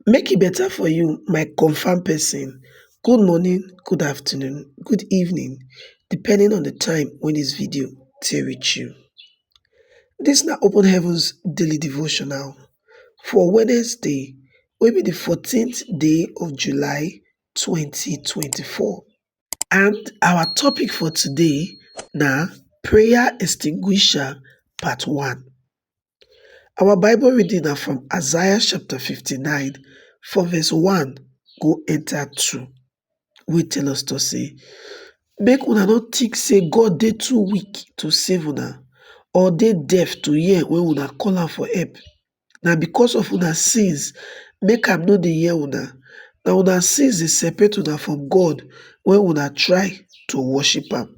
Make e better for you my confirm person. Good morning, good afternoon, good evening depending on the time when this video take reach you. This na Open Heavens Daily Devotional for Wednesday wey be the 14th day of July 2024 and our topic for today na prayer extinguisher part 1. Our Bible reading na from Isaiah chapter 59 from verse 1 go enter 2 wey tell us to say make una no think say God dey too weak to save una or dey deaf to hear when una call am for help. Na because of una sins make am no dey hear una. Na una sins dey separate una from God when una try to worship am.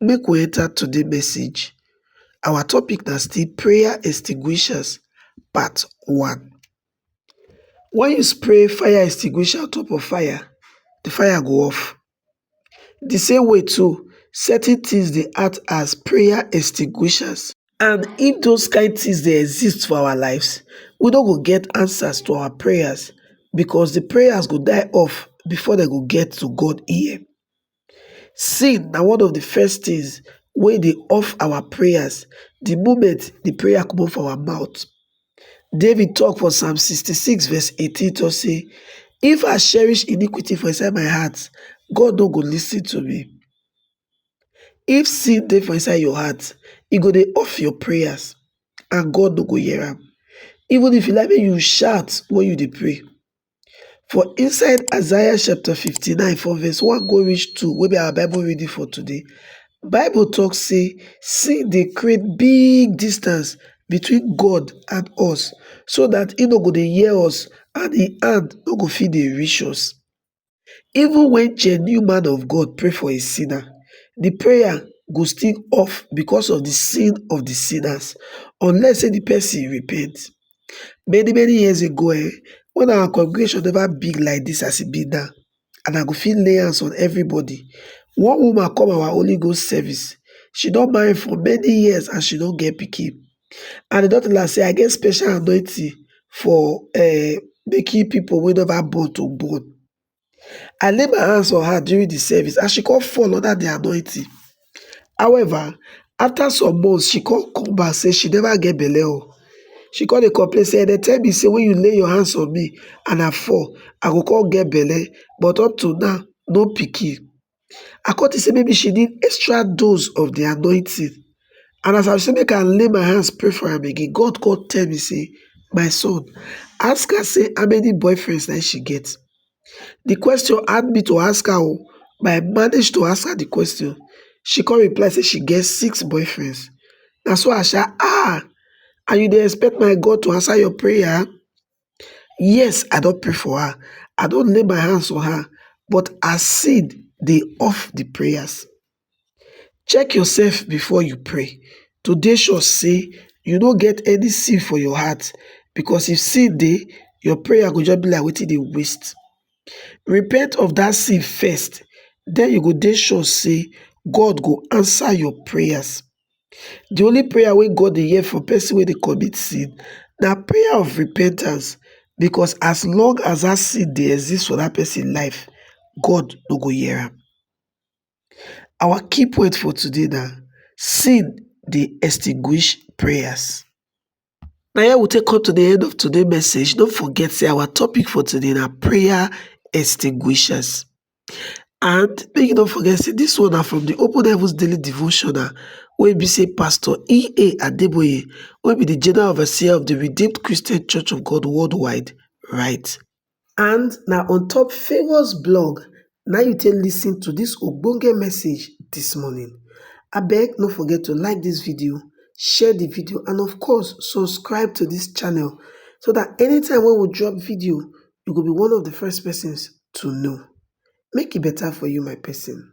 Make we enter today message. Our topic na still prayer extinguishers part one. When you spray fire extinguisher on top of fire, the fire go off. The same way too, certain things dey act as prayer extinguishers and if those kind things dey exist for our lives, we no go get answers to our prayers because the prayers go die off before dem go get to God ear. Sin na one of the first things wey dey off our prayers the moment the prayer comot for our mouth. David talk for Psalm 66 verse 18 talk say, If I cherish iniquity for inside my heart, God no go listen to me. If sin dey for inside your heart, e go dey off your prayers and God no go hear am. Even if you like make you shout when you dey pray, For inside Isaiah chapter 59 from verse 1 go reach 2 wey be our Bible reading for today, Bible talk say sin dey create big distance between God and us so that e no go dey hear us and im hand no go fit dey reach us. Even when genuine man of God pray for a sinner, the prayer go still off because of the sin of the sinners unless say the person repent. Many many years ago um wen our congregation never big like dis as e be now and I go fit lay hands on everybody, one woman come our holy ghost service she don marry for many years and she no get pikin and dem don tell am sey I get special anointing for um making pipu wey never born to born. I lay my hands on her during the service and she come fall under the anointing. However, after some months, she come come back say she never get belle o. Oh. She come dey complain say they tell me say when you lay your hands on me and I fall, I go come get belle but up to now, no pikin. I come think say maybe she need extra dose of the anointing. And as I say make I lay my hands pray for am again, God come tell me say, my son, ask her say how many boyfriends that she get. The question had me to ask her oh, but I managed to ask her the question. She come reply say she get six boyfriends. Na so I say, ah, and you dey expect my God to answer your prayer? yes i don pray for her i don lay my hands on her but her seed dey off the prayers check yourself before you pray to dey sure say you no get any sin for your heart because if sin dey your prayer go just be like wetin dey waste repent of that sin first then you go dey sure say God go answer your prayers The only prayer wey God dey hear for person wey dey commit sin na prayer of repentance because as long as that sin dey exist for that person life, God no go hear am. Our key point for today na sin dey extinguish prayers. na here we take come to the end of today message don't forget say our topic for today na prayer extinguishers and make you no forget say this one na from the open heavens daily devotional wey be say pastor ea adeboye wey be the general overseer of the redeemed christian church of god worldwide write And na on top Favour's blog na you take listen to this ogbonge message this morning. Abeg no forget to like this video, share the video and of course subscribe to this channel so that anytime when we drop video, you go be one of the first persons to know. Make it e better for you my person.